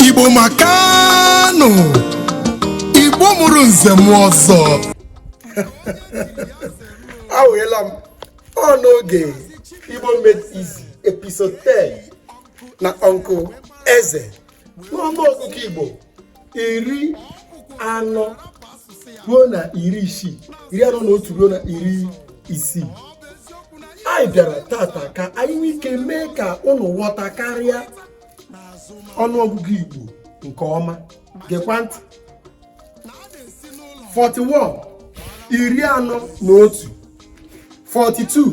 igbo makanụ igbo mụrụ nze mụọ ọzọ awụghela m ọ n'oge igbo made easy episode 10 na uncle eze n'ọnụ ọgụgụ igbo iri anọ ruo na iri isii iri anọ na otu ruo na iri isii anyị bịara tata ka anyị nwee ike mee ka ụnụ ghọta karịa ọnụọgụgụ igbo nke ọma gekwa ntị 41 iri anọ na otu 42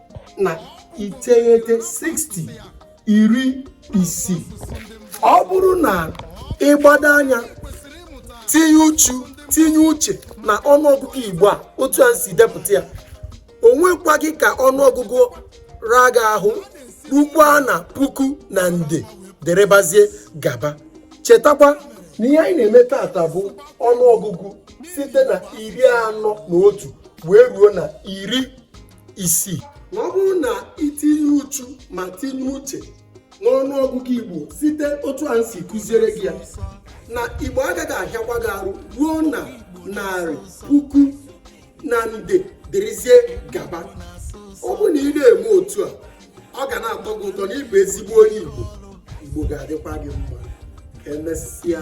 na iteghete 60 iri isii ọ bụrụ na ị gbado anya tinye uchu tinye uche na ọnụọgụgụ igbo a otu a si depụta ya o nwekwaghị ka ọnụọgụgụ ra gị ahụ rukwa na puku na nde derebazie gaba chetakwa na ihe anyị na-eme tata bụ ọnụọgụgụ site na iri anọ na otu wee ruo na iri isii na ọ bụrụ na i tinye uchu ma tinye uche n'ọnụ ọgụgụ igbo site otu a si kụziere gị ya na igbo agaghị ahịakwa gị arụ ruo na narị puku na nde dịrịzie gaba ọ bụ na ị na-eme otu a ọ ga na-atọ gị ụtọ na ị bụ ezigbo onye igbo igbo ga-adịkwa gị mma ka emesịa